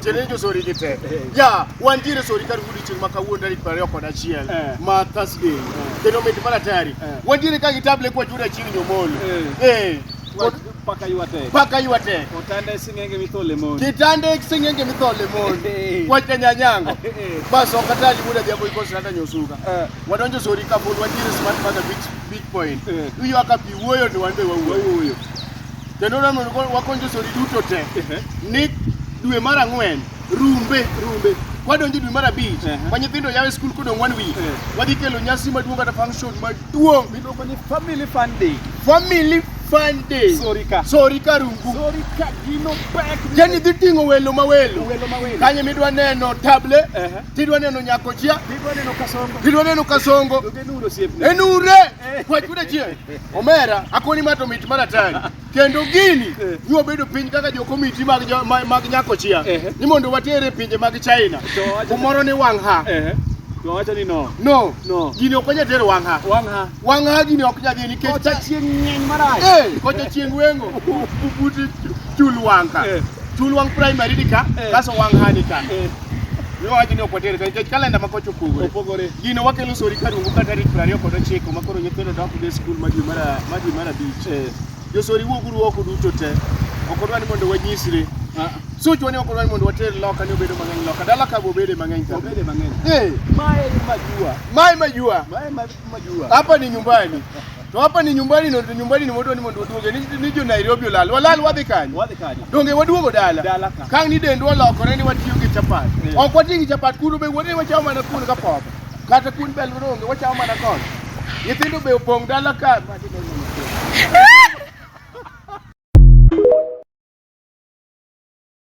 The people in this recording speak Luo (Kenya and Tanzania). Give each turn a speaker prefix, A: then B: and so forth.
A: Tiende ni josori gi te. Ya, wantiere sori kar odiechieng' ma kawuono tarik piero ariyo kod achiel Eh. ma Thursday. Kendo mit mana tari. Eh. Wantiere ka gi table kwa chuda chieng' nyomol. Eh. Kod
B: Paka ywate. paka ywa te.
A: Otande sing'enge
B: mithole mon. Kitande singenge
A: mithole mon. Eh. Kwa nyanyango. Eh. Bas ok atali muda jambo iko sirata nyosuka. Eh. Wadonjo sori ka pod wantiere smart mother beach beach point. Eh. Iywaka pi wuoyo to wan be wawuoyo. Wawuoyo. kendo wakony josori duto te ni dwe mar ang'wen rumbe rumbe wadonjo dwe mar abich ma nyithindo yawe skul kodong' one week wadhi kelo nyasi maduong' kata function maduong' miluongo ni family
B: fun day family fun day sorika
A: sorika rungu sorika gino
B: pek yani dhi ting'o welo
A: ma welo welo ma welo kanye midwa neno table tidwa neno nyakochia tidwa neno kasongo tidwa neno kasongo enure kwachuda chieng' Omera akoni ma to mit mana tani kendo gini eh. nyuo bedo piny kaka jo komiti mag mag nyako chia eh. ni mondo watere pinje mag China kumoro ni wang ha eh. Wacho ni
B: no. No. No. Gini ok
A: nyal tero wang ha. Wang ha. Wang ha gini ok nyal nikech kocha chieng' ng'eny
B: marach. Eh, kocha chieng'
A: wengo. Bubuti chul wang ka. Chul wang primary ni ka, kaso wang ha ni ka. Wawachni ok water ka nikech kalenda ma kocha opogore. Opogore. Gino wakelo sori ka rungu ka tarik piero ariyo kod ochiko ma koro nyithindo dok dhi skul ma dwe mar a- ma dwe mar abich. Eh. Josori wuog uru oko duto te. Ok odwa ni mondo wanyisre. Ah, Suchwa ni ok odwa ni mondo water loka ni obedo mang'eny loka. Dala ka bobede mang'eny ka. obede mang'eny. Eh, Mae majua. Mae majua. Mae ma Hapa ni nyumbani. To hapa ni nyumbani no nyumbani ni mondo ni mondo duoge ni ni jo Nairobi olal. Walal wadhi kanyo. Wadhi kanyo. Donge waduogo dala. Dala ka. Kang ni dendwa lokore ni watiyo gi chapat. Yeah. Ok watiyo gi chapat kuno be wuodhe wachamo mana kuno ka pop. Kata kun bel ronge wachamo mana kon. Nyithindo be opong dala ka.